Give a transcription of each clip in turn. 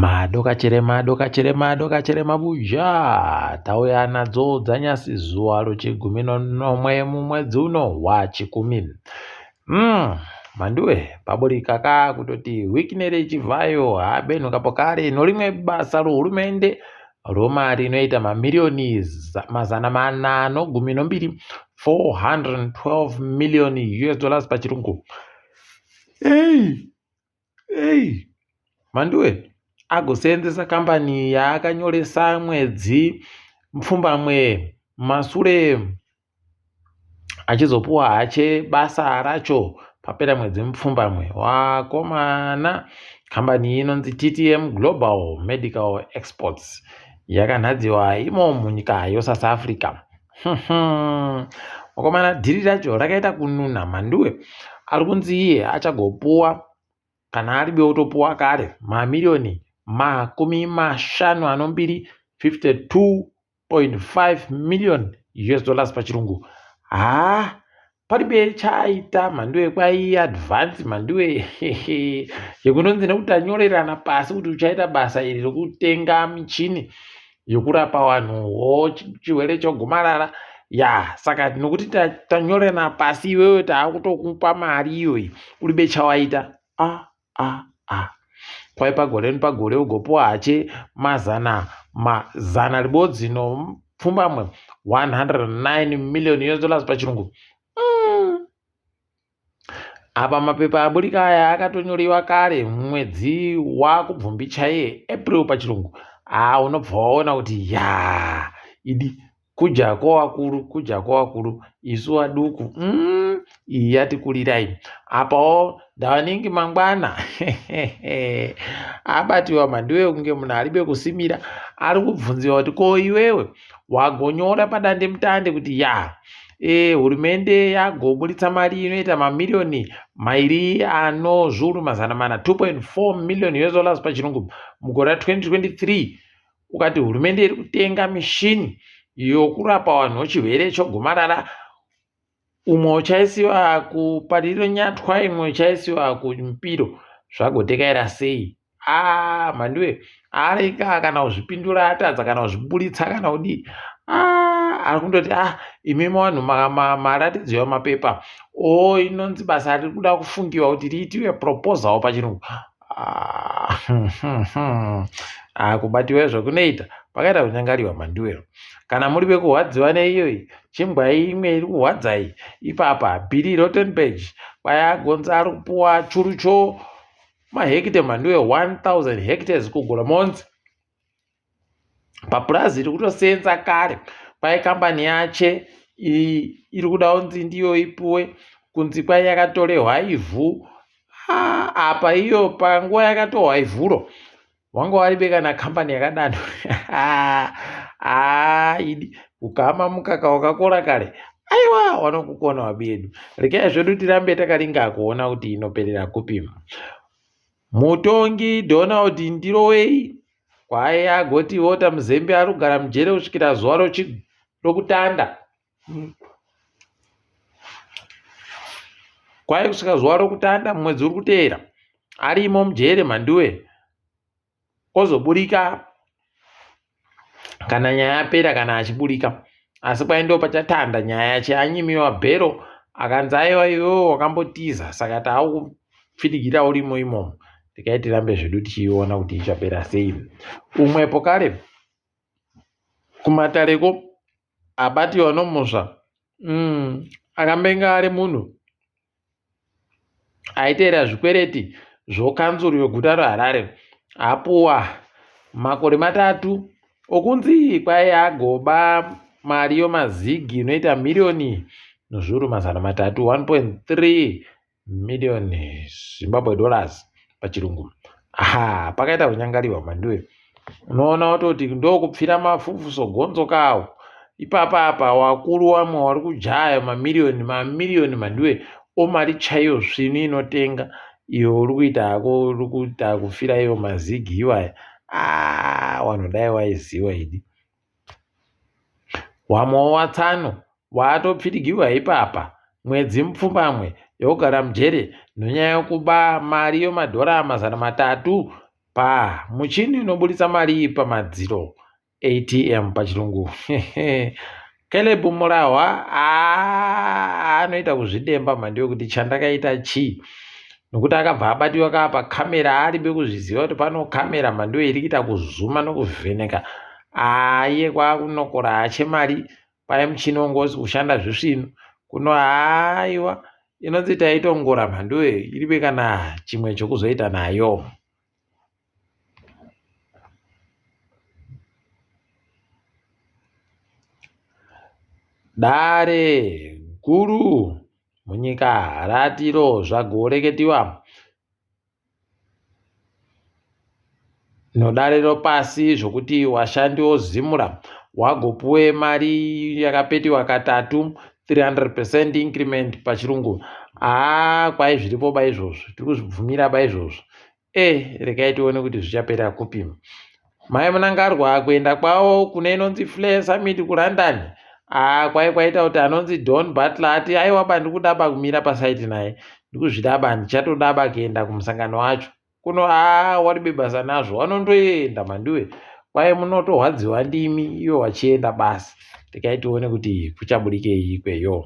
Mado kachere mado kachere mado kachere mabuja tauya nadzo dzanyasi zuva rechigumi nomwe mumwedzi uno wachikumi mm. manduwe paburika ka kutoti wikinere chivhayo habenhu kapo kare norimwe basa rohurumende romari inoita mamiriyoni mazana mana nogumi nombiri 412 million us dollars pachirungu hey. Hey mhanduwe agoseenzesa kambani yaakanyoresa mwedzi mupfumbamwe masure achizopuwa hache basa racho papera mwedzi mupfumbamwe wakomana kambani iyi inonzi ttm global medical exports yakanhadziwa imo munyika yosouth africa mukomana dhiri racho rakaita kununa mhanduwe ari kunzi iye achagopuwa kana ari beotopuwa kare mamiriyoni makumi mashanu anombiri 52.5 million us dollars pachirungu haa paribe chaaita mhandiwe kwai advance mhandiwe yekunonzi nekuti tanyorerana pasi kuti uchaita basa iri rokutenga michini yokurapa vanhu wo chirwere chogomarara ya saka nokuti tanyorerana pasi iwewe taakutokupa mari iyoyi uribe chawaita a ah, ah ah kwai pagore nepagore ugopiwa hache mazana mazana ribodzi nopfumbamwe 109 million us dollars pachirungu mm. apa mapepa aburika aya akatonyorewa kare mwedzi wakubvumbi chaiye april pachirungu haa unobva waona kuti ya idi kudya kwavakuru kudya kwavakuru isu vaduku mm, iyi yatikurirai apawo ndavanenge mangwana abatiwa mandiwe kunge munhu ari bekusimira ari kubvunziwa kuti ko iwewe wagonyora padande mutande kuti ya e, hurumende yagoburitsa mari inoita mamiriyoni mairi ano zviuru mazana mana 2.4 million us dollars pachirungu mugore ra 2023 ukati hurumende iri kutenga mishini yokurapa vanhu chirwere chogomarara umwe uchaisiwa kupariro nyatwa imwe uchaisiwa kumupiro zvagotekaira sei ah mhandiwe areka kana kuzvipindura atadza kana kuzviburitsa kana kudii ah ari kundoti ah imi vanhu maratidzo yamapepa o oh, inonzi basa riri kuda kufungiwa kuti riitiwe proposal pachirungu kubatiwa izvo kunoita pakaita kunyangariwa manduwero kana muri vekurwadziwa neiyoyi chimbwai imwe iri kurwadzai ipapa bhiri rotenberg kwayagonza ari kupuwa churucho mahekite manduwe 1000 hectares kugura monzi papurazi iri kutoseenza kare kwai kambani yache iri kuda kunzi ndiyo ipuwe kunzi kwai yakatorehwa ivhu apa iyo panguva yakatohwa ivhuro wanga waribeka nakambani yakadano idi ukama mukaka wakakora kare aiwa wanokukona wabedu rekai zvedu tirambe takaringa kuona kuti inoperera kupima mutongi donald ndirowei kwaye agoti vota muzembe ari kugara mujere kusvikira zuva rokutanda kwaye kusvika zuva rokutanda mumwedzi uri kuteera arimo mujere mhanduwe ozoburika kana nyaya yapera kana achiburika asi kwaye ndo pachatanda nyaya yacho anyimiwa bhero akanzi aiwa iwewo wakambotiza saka taaku pfidigira urimo imomo tikai tirambe zvedu tichiiona kuti ichapera sei umwepo kare kumatareko abati vanomusva mm, akambenga ari munhu aiteera zvikwereti zvokanzuru yoguta reharare apuwa makore matatu okunzi kwai agoba mari yomazigi inoita miriyoni nezviuru mazana matatu 1.3 million Zimbabwe dollars pachirungu ha pakaita kunyangariwa manduwe unoona watoti ndokupfira mafufu sogonzo kawo ipapa apa wakuru wamwe wari kujaya mamiriyoni mamiriyoni manduwe omari chaiyo svinu inotenga iyo uri kuita hako uri kuita kufira iyo mazigi iwaya ah, wanhu dai waiziwa idi Wamwawo watsano waatopfidgirwa ipapa mwedzi mupfumbamwe yokugara mujere nonyaya yokuba mari yomadhora mazana matatu pamuchini unoburitsa mari pamadziro ATM pachirungu Caleb Murahwa anoita kuzvidemba mhandi yokuti chandakaita chii nokuti akabva abatiwa kaa pacamera aaribe kuzviziva kuti pano camera mhandiyo iri kuita kuzuma nokuvheneka aye kwakunokora hache mari paye muchini wongozi kushanda zvisvinu kuno haiwa inonzi taitongora mhandiyo iribe kana chimwe chokuzoita nayo Dare guru munyika ratiro zvagoreketiwa nodare ropasi zvokuti washandi wozimura wagopuwe mari yakapetiwa katatu 300 percent increment pachirungu aa kwai zviripo ba izvozvo tiri kuzvibvumira ba izvozvo Eh, regai tione kuti zvichapera kupi. Mai Munangarwa kuenda kwavo kune inonzi Flair Summit kuLondon. Ah, kwai kwaita kuti anonzi Don Butler ati aiwa ba ndikudaba kumira pasaiti naye. Ndikuzvidaba ndichatodaba kuenda kumusangano wacho. Kuno ah wari bebasa nazvo wanondoenda mandiwe. Kwai munotorwadziwa ndimi iyo wachienda basi. Regai tione kuti kuchabudikei ikweyo.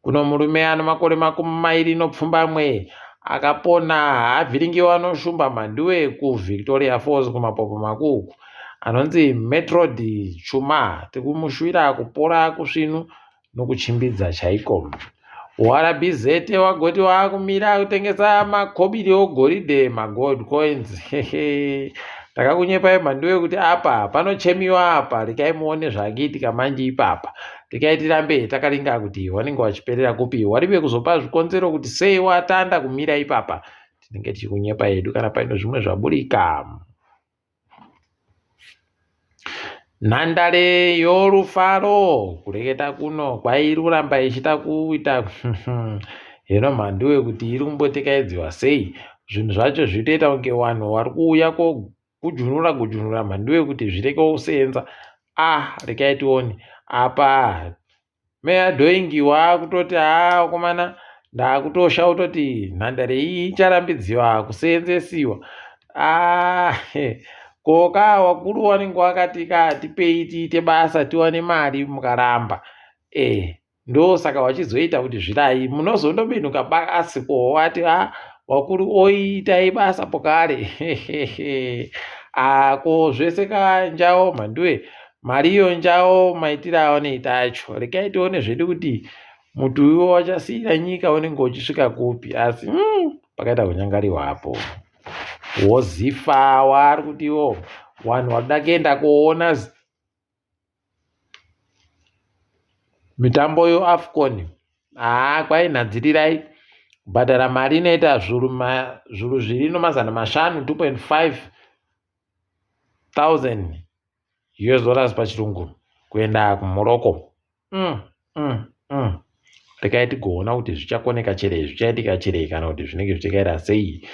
Kuno murume ano makore makumi mairi nopfumbamwe akapona haavhiringiwa anoshumba mhanduwe kuvictoria falls kumapopo makuku anonzi metrod chuma tikumushuira kupora kusvinu nokuchimbidza chaiko urbz wagoti waakumira kutengesa makobiri ogoridhe magold coins hehe takakunyepai mhanduwe kuti apa panochemiwa apa rekai muone zvaakiitika manje ipapa tikaitira mberi takaringa kuti wanenge wachiperera kupi warive kuzopa zvikonzero kuti sei watanda kumira ipapa tinenge tichikunyepa yedu kana paine zvimwe zvaburika nhandare yorufaro kureketa kuno kwairuramba ichita kuita hino mhanduwe kuti iri kumbotekaidziwa sei zvinhu zvacho zvitoita kunge vanhu vari kuuya Gujunura gujunura mhandu yekuti zvireke kuseenza ah rekai tione apa meya dhoingi waakutoti haa komana ndaakutosha utoti nhandare iyi icharambidziwa kuseenzesiwa ah ko ka wakuru wanenge wakati ka tipei tiite basa tiwane mari mukaramba eh ndosaka wachizoita kuti zvirai munozondobinuka basi kohowati a ah, wakuri oitai basa pokare ako ah, zvese kanjawo mhanduwe mari iyo njawo maitiro aoneita acho rekai tione zvedu kuti muti uyo wachasiyira nyika unenge uchisvika kupi asi mm, pakaita kunyangariwa apo wozifa waari kutiwo wanhu wakuda kuenda kuona Mitambo yoAfcon haa kwai nhadzirirai kubhadhara mari inoita zvuru zvuru zviri nomazana mashanu 2.5 thousand US dollars pachirungu kuenda kuMorocco. mm, mm, mm. rekai tigoona kuti zvichakoneka cherei zvichaitika cherei kana kuti zvinenge zvichikaira sei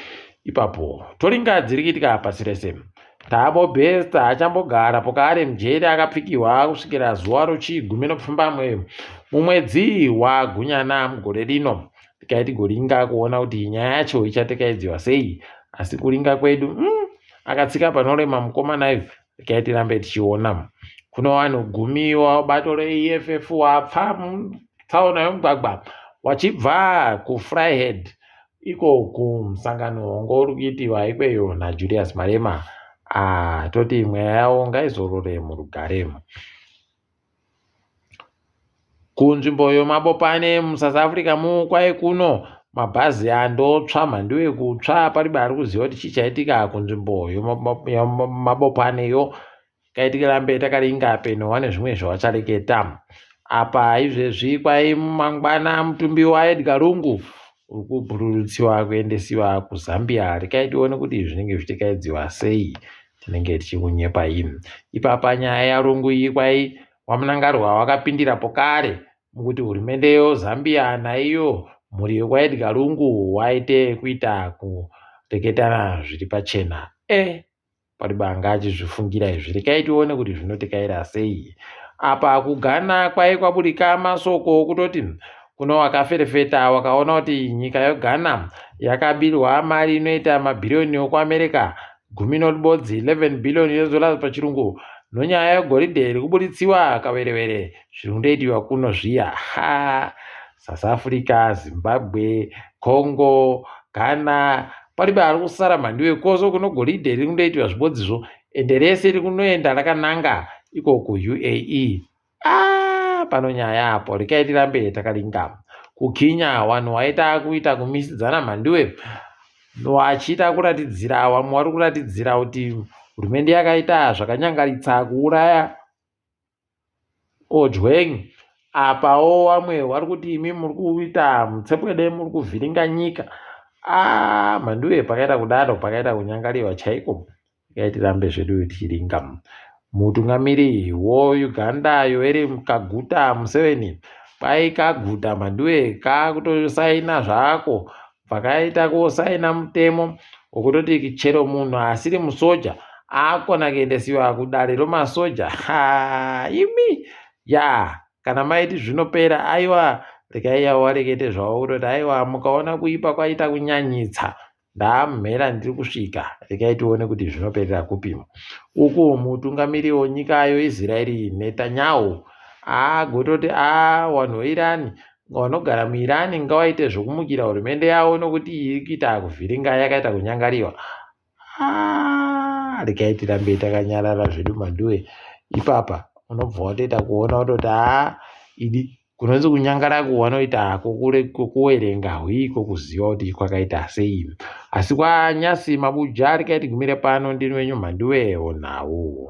ipapo toringa dziri kuitika pasi rese tabo besta achambogara pokaari mjeri akapfikirwa kusvikira zuva rochigumi nokufamba mwe mumwedzi wagunyana mugore rino tikai tigoringa kuona kuti nyaya yacho ichatekaidziwa sei asi kuringa kwedu mm, akatsika panorema mukomana ive regai tirambe tichiona kuno vanhu gumi wabato reeff wapfa mutsaona yomugwagwa wachibva kufryhead iko kumusangano wongo uri kuitiwa ikweyo najulius marema ah, toti mweya yawo ngaizorore murugare Kunzvimbo yemabopane muSouth Africa mu kwaye kuno mabhazi andotsva mhandu yekutsva paribe ari kuziva kuti chii chaitika kunzvimbo yemabopaneyo kaitika rambe takaringa peno wane zvimwe zvawachareketa apa izvezvi kwai mangwana mutumbi waEdgar Lungu uri kubhururutsiwa kuendesiwa kuZambia rekai tione kuti zvinenge zvichikaidziwa sei tinenge tichikunyepa im ipapa nyaya yarungu iyi kwai wamunangarwa wakapindira pokare mukuti hurumende yo zambia naiyo mhuri yekwaedga rungu waite kuita kureketana zviri pachena e eh, pari banga achizvifungira izvi rekai tione kuti zvinotikaira sei apa kugana kwai kwaburika masoko okutoti kuno wakaferefeta wakaona kuti nyika yogana yakabirwa mari inoita mabhiriyoni okuamerica gumi noribodzi 11 billion US dollars pachirungu nonyaya yegoridhe iri kubuditsiwa kaverevere zviri kundoitiwa kuno zviya ha south africa zimbabwe congo ghana palibe ari kusara mhandiwe koso kuno goridhe riri kundoitiwa zvibodzizvo ende rese riri kunoenda rakananga ikoko uae Ah, pano nyaya apo rikai tirambe takaringama kukinya wanhu waita kuita kumisidzana mhandiwe wachiita kuratidzira wamwe wari kuratidzira kuti hurumende yakaita zvakanyangaritsa kuuraya ojweng apawo wamwe wari kuti imi muri kuita mutsepwede muri kuvhiringa nyika ah, mhandiwe pakaita kudaro pakaita kunyangariwa chaiko Regai tirambe zvedu tichiringa. Mutungamiri woUganda Yoweri Kaguta Museveni kwai kaguta mhanduwe kakutosaina zvako pakaita kusaina mutemo wokutoti chero munhu asiri musoja akona kuendesiwa kudare romasoja ha imi ya kana maiti zvinopera aiwa rekai yawarekete zvavo kutoti aiwa mukaona kuipa kwaita kunyanyitsa Ndaamhera ndiri kusvika, regai tione kuti zvinoperera kupimo. Uku mutungamiri wenyika yo Israeri Netanyahu agototi a wanhu weIrani vanogara muIrani ngawaite zvokumukira hurumende yavo nokuti iri kuita kuvhiringa yakaita kunyangariwa. Ah, regai tirambe takanyarara zvedu manduwe. Ipapa unobva watoita kuona wototi a ah, idi kunonzi kunyangara kwavanoita hako kuwerenga hwiko kuziva kuti kwakaita sei asi kwanyasi mabuja rikaiti gumire pano ndini wenyu mhandiwewo nhau